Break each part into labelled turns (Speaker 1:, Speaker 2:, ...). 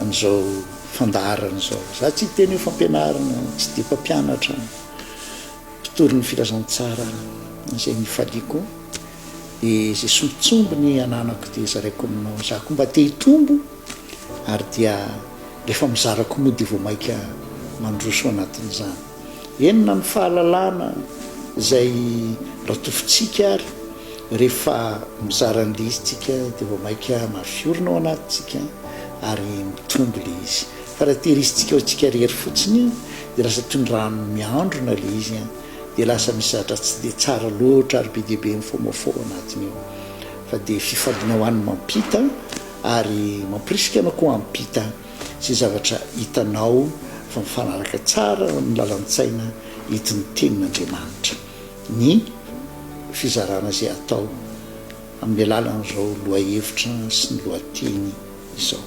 Speaker 1: an'izao fandaharana izao. Za tsy hiteny hoe fampianarana, tsy dia mpampianatra, mpitory ny filazantsara izay nifaliako, dia izay sombintsombiny ananako dia zaraiko aminao. Za koa mba te hitombo ary dia rehefa mizarako moa dia vao mainka mandroso anatin'izany. Enina ny fahalalana izay ratofintsika ary rehefa mizara an'ilay izy tsika dia vao maika mafiorina ao anatintsika ary mitombo ilay izy. Fa raha tehirisintsika ho antsika irery fotsiny dia lasa toy ny rano miandrona ilay izy dia lasa misy zavatra tsy dia tsara loatra ary be dia be mifoamafo ao anatiny ao. Fa dia fifandonawany mampita ary mampirisika anao koa hampita. izay zavatra hitanao fa mifanaraka tsara amin'ny lalan-tsaina entin'ny Tenin'Andriamanitra ny fizarana izay atao amin'ny alalan'izao lohahevitra sy ny lohateny izao.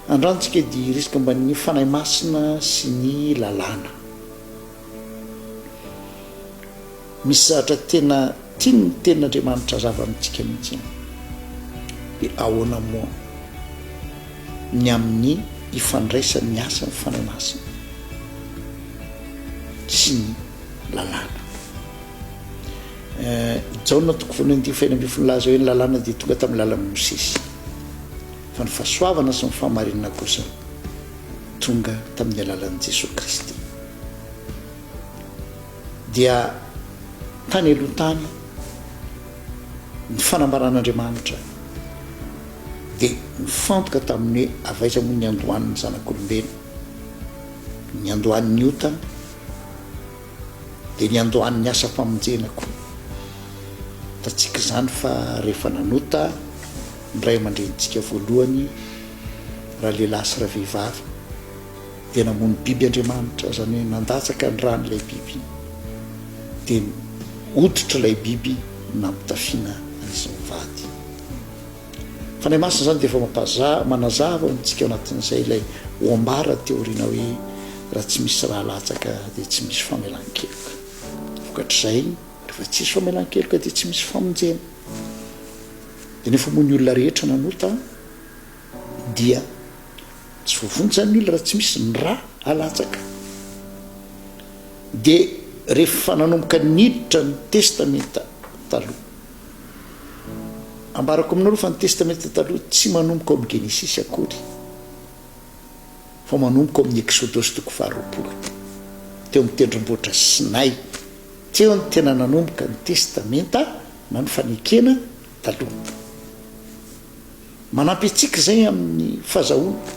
Speaker 1: Andrantsika dia hirisika omban'ny Fanahy Masina sy ny lalàna. Misy zavatra tena tian ny tenin Andriamanitra hazava amintsika mihitsy an! De ahoana moa ny amin ny ifandraisan ny asan ny Fanahy Masina sy ny lalàna? Eh, Jaona toko voalohany andininy fahenina ambin'ny folo nilaza hoe ny lalàna dia tonga tamin ny lalan i Mosesy, fa ny fahasoavana sy ny fahamarinana kosa tonga tamin ny alalan i Jesoa Kristy. dia tany aloha tany ny fanambaran'Andriamanitra dia nifantoka tamin'ny hoe avy aiza moa ny andohan'ny zanak'olombelona, ny andohan'ny otana dia ny andohan'ny asam-pamonjena koa. Hitantsika izany fa rehefa nanota ny ray aman-drenintsika voalohany, ralehilahy sy ravehivavy, Dia namono biby Andriamanitra, izany hoe nandatsaka ny rany ilay biby, dia ny hoditr'ilay biby nampitafiana an'izy mivady. Fanahy Masina izany dia efa mampaza, manazava ho antsika ao anatin'izay ilay ho ambara teo aoriana hoe raha tsy misy ra latsaka dia tsy misy famelan-keloka. Vokatr'izay, rehefa tsy misy famelan-keloka dia tsy misy famonjena. Dia ny efa moa ny olona rehetra nanota, Dia tsy voavonjy ny olona raha tsy misy ny ra alatsaka. Dia rehefa nanomboka niditra ny Testamenta Taloha. Ambarako aminareo fa ny Testamenta Taloha tsy manomboka ao amin'ny Genesisy akory fa manomboka ao amin'ny Eksodosy toko faharoapolo. Teo amin'ny tendrombohitra Sinay. Teo no tena nanomboka ny Testamenta na ny fanekena taloha. Manampy antsika izay amin'ny fahazahoana.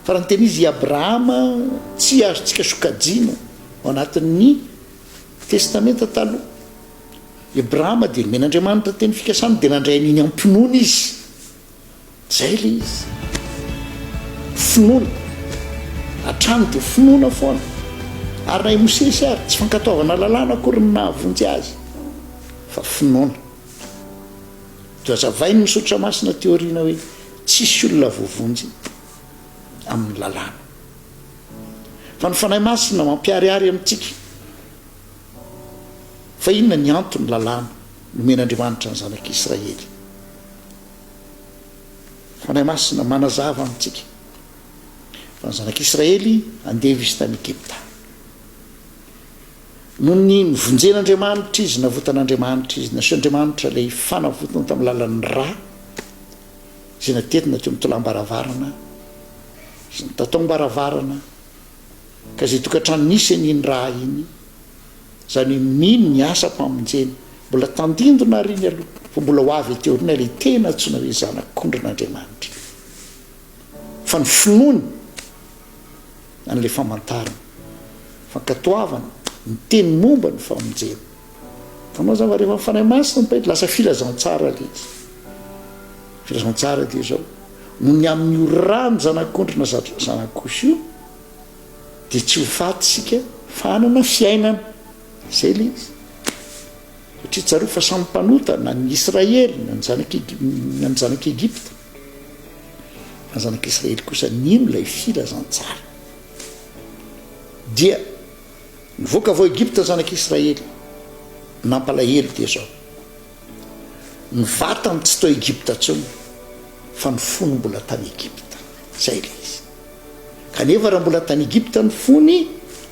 Speaker 1: Farany teny izy i Abrahama tsy azontsika sokajiana ao anatin'ny Testamenta Taloha. I Abrahama dia nomen'Andriamanitra teny fikasana dia nandray an'iny am-pinoana izy. Izay ilay izy. Finoana. Hatrany dia finoana foana. Ary na i Mosesy ary, tsy fankatoavana lalàna akory no nahavonjy azy, fa finoana. Nohazavain' ny Soratra Masina teo aoriana hoe tsisy olona voavonjy amin' ny Lalàna, fa ny Fanahy Masina mampiharihary amintsika fa inona ny anton' ny Lalàna nomen' Andriamanitra ny Zanak' Israely. Ny Fanahy Masina manazava amintsika fa ny Zanak' Israely andevo izy tany Egipta. Noho ny nivonjen'Andriamanitra izy, navotan'Andriamanitra izy, nasehon'Andriamanitra ilay fanavotana tamin'ny lalan'ny ra izay naterina teo amin'ny tolambaravarana sy ny tataom-baravarana ka izay tokantrano nisy an'iny ra iny, izany hoe mino ny asam-pamonjena mbola tandindona àry iny aloha fa mbola ho avy aty aoriana ilay tena antsoina hoe zanak'ondrin'Andriamanitra fa ny finoany an'ilay famantarana, fankatoavana, miteny momba ny famonjena. Hitanao izany fa rehefa ny Fanahy Masina mitaingina dia lasa filazantsara ilay izy. Filazantsara dia izao, noho ny amin'io ràn'ny Zanak'ondry na Zanak'osy io dia tsy ho faty isika fa hanana fiainana. Izay ilay izy. Satria tsarovy fa samy mpanota na ny Israely na ny Zanak'Egipta. Fa ny zanak'Israely kosa nino ilay filazantsara. Dia nivoaka avy ao Egypta ny zanak'Israely. Nampalahelo dia izao. Ny vatany tsy tao Egypta intsony, fa ny fony mbola tany Egypta. Izay ilay izy. Kanefa raha mbola tany Egypta ny fony,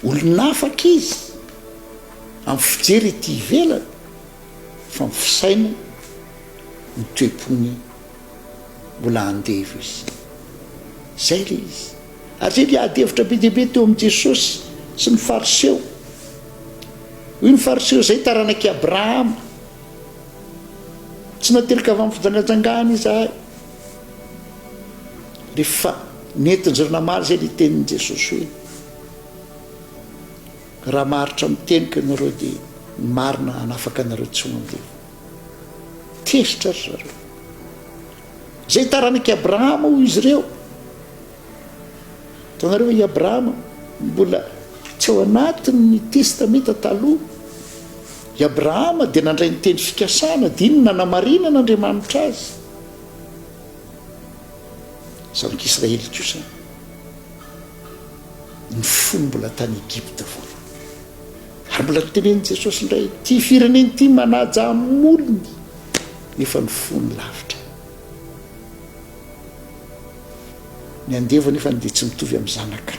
Speaker 1: olon'afaka izy. Amin'ny fijery ety ivelany, fa ny fisainany, ny toe-pony Mbola andevo izy. Izay ilay izy. Ary izay dia ady hevitra be dia be teo amin'i Jesosy sy ny Fariseo. Hoy ny Fariseo, Izahay taranak'i Abrahama. Tsy nateraka avy amin'ny fijangajangana izahay. Rehefa nentin'izy ireo namaly izay ilay tenin'i Jesosy hoe, Raha maharitra ny teniko ianareo dia ny marina hanafaka anareo tsy ho andevo. Tezitra ry zareo. Izay taranak'i Abrahama hoy izy ireo. Hitanareo ve i Abrahama mbola tsy ao anatin'ny Testamenta Taloha. I Abrahama dia nandray ny teny fikasana, dia iny nanamarinan'Andriamanitra azy. Zanak'Israely kosa ny fony mbola tany Egypta voalohany. Ary mbola notenenin'i Jesosy indray, Ity firenena ity manaja amin'ny molony, nefa ny fony lavitra. Ny andevo anefany dia tsy mitovy amin'ny zanaka.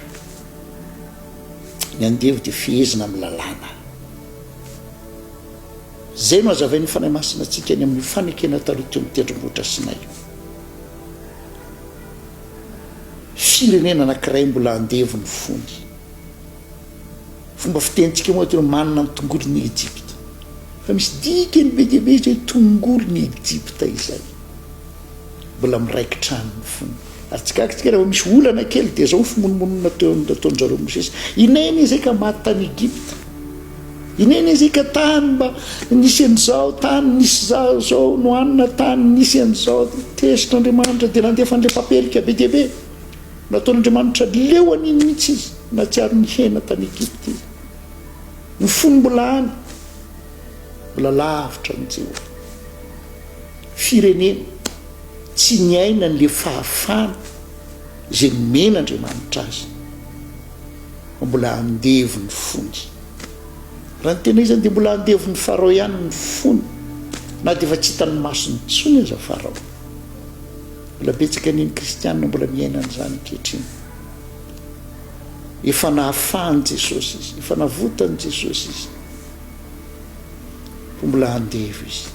Speaker 1: Ny andevo dia fehezina amin'ny lalàna. Izay no hazavain'ny Fanahy Masina antsika any amin'ny fanekena taloha teo amin'ny tendrombohitra Sinay. Firenena anankiray mbola andevo ny fony. Fomba fitenintsika moa atao hoe manana ny tongolo ny Ejipta. Fa misy dikany be dia be izay hoe tongolo ny Ejipta izay. Mbola miraikitra any ny fony. Ary tsy gaga tsika raha vao misy olana kely dia izao ny fimonomonona nataon-dry zareo Mosesy. Inona-inona izay ka maty tany Egypta? Inona-inona izay ka tany mba nisy an'izao, tany nisy izaho izao no hanina, tany nisy an'izao, tesotr'Andriamanitra dia nandefa an'ilay papelika be dia be. Nataon'Andriamanitra leo an'iny mihitsy izy nahatsiaro ny hena tany Egypta iny. Ny fony mbola any, mbola lavitra an'i Jehovah. Firenena tsy niaina an'ilay fahafahana izay nomen'Andriamanitra azy fa mbola andevo ny fony. Raha ny tena izy dia mbola andevon'i Farao ihany ny fony na dia efa tsy hitan'ny masony intsony aza Farao. Mbola betsaka ny kristiana mbola miaina an'izany ankehitriny. Efa nahafahan'i Jesosy izy, efa navotan'i Jesosy izy, fa mbola andevo izy.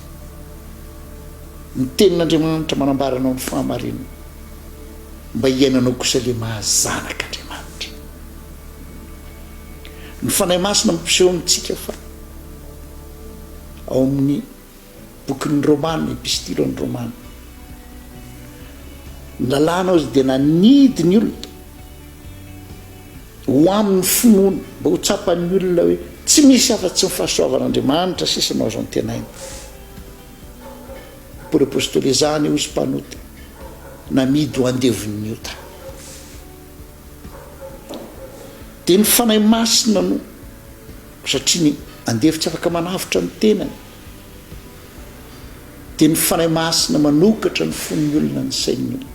Speaker 1: Ny tenin'Andriamanitra manambara anao ny fahamarinana, mba hiainanao kosa ilay maha zanak'Andriamanitra. Ny Fanahy Masina mampiseho amintsika fa ao amin'ny bokin'ny Romana, Epistilon'ny Romana. Ny lalànao izy dia nanidy ny olona ho amin'ny finoana, mba ho tsapan'ny olona hoe tsy misy afa-tsy ny fahasoavan'Andriamanitra sisa no azo antenaina. Paoly Apostoly izany hozy mpanota, namidy ho andevon'ny ota. Dia ny Fanahy Masina no Satria ny andevo tsy afaka manavotra ny tenany, dia ny Fanahy Masina manokatra ny fon'ny olona, ny sain'ny olona,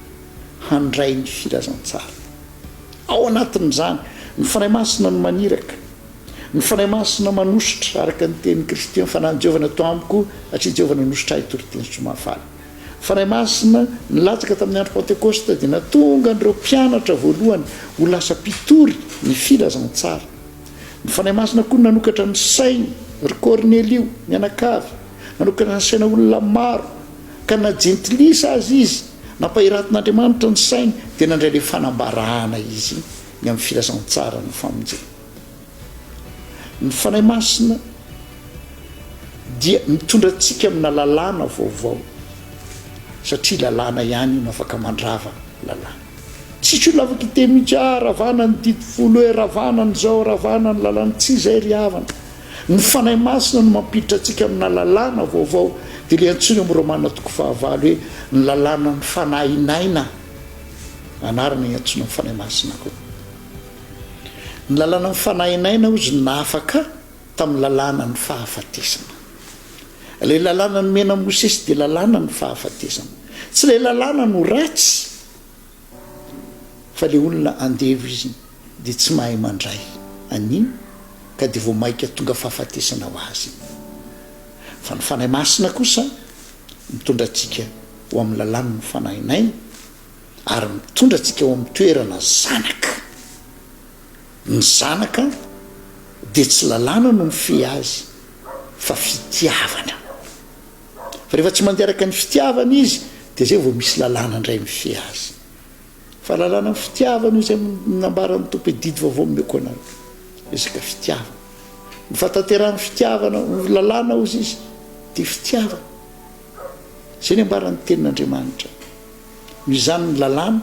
Speaker 1: handray ny filazantsara. Ao anatin'izany, ny Fanahy Masina no maniraka. Ny Fanahy Masina manosotra, araka ny tenin'i Kristy, ny Fanahin'i Jehovah nato amiko, satria Jehovah nanosotra ahy hitoriteny soa mahafaly. Ny Fanahy Masina nilatsaka tamin'ny andro Pantekosta dia natonga an'ireo mpianatra voalohany ho lasa mpitory ny filazantsara. Ny Fanahy Masina koa no nanokatra ny sainy ry Kornelio mianakavy, nanokatra ny saina olona maro, ka na jentilisa aza izy, nampahiratin'Andriamanitra ny sainy, dia nandray ilay fanambarana izy ny amin'ny filazantsaran'ny famonjena. Ny Fanahy Masina dia mitondra antsika amina lalàna vaovao, satria lalàna ihany no afaka mandrava lalàna. Tsy ko lava kite mitsy ah ravana ny didy folo eh ravana ny zao ravana ny lalana tsy izay ry havana ny fanahy masina no mampiditra antsika amina lalàna vaovao dia le antsoiny am romana toko fahavalo hoe ny lalàna ny fanahy naina anarana iantsoina am fanahy masina koa ny lalàna ny fanahy naina ozy ny nahafaka Tamin'ny lalàna ny fahafatesana. Ilay lalàna nomena Mosesy dia lalàna ny fahafatesana. Tsy ilay lalàna no ratsy fa ilay olona andevo izy dia tsy mahay mandray an'iny ka dia vao maika tonga fahafatesana ho azy iny. Fa ny Fanahy Masina kosa mitondra antsika ho amin'ny lalàn'ny Fanahinay ary mitondra antsika ho amin'ny toerana zanaka. Ny zanaka dia tsy lalàna no mifehy azy fa fitiavana. Fa rehefa tsy mandeha araka ny fitiavana izy dia izay vao misy lalàna indray mifehy azy. Fa lalàna amin'ny fitiavana io izay nambaran'ny Tompo hoe didy vaovao nomeko anareo. Resaka fitiavana. Ny fahatanterahan'ny fitiavana ho lalàna hozy izy dia fitiavana. Izay ny ambaran'ny tenin'Andriamanitra. Noho izany ny lalàna,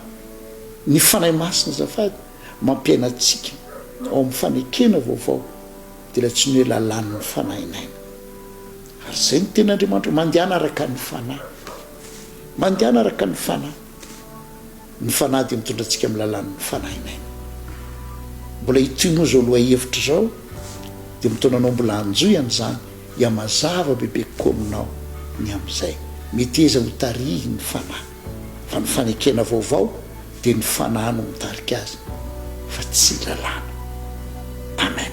Speaker 1: ny Fanahy Masina azafady, Mampiaina antsika ao amin'ny fanekena vaovao dia ilay tsy ny hoe lalàn'ny fanahy naina. Ary izay ny tenin'Andriamanitra, mandehana araka ny fanahy. Mandehana araka ny fanahy. Ny fanahy dia mitondra antsika amin'ny lalàn'ny fanahy naina. Mbola hitohy moa izao lohahevitra izao, dia mitaona anao mbola hanjohy an'izany, hihamazava bebe kokoa aminao ny amin'izay. Meteza hotarihin'ny fanahy. Fa ny fanekena vaovao dia ny Fanahy no mitarika azy fa tsy lalàna. Amen.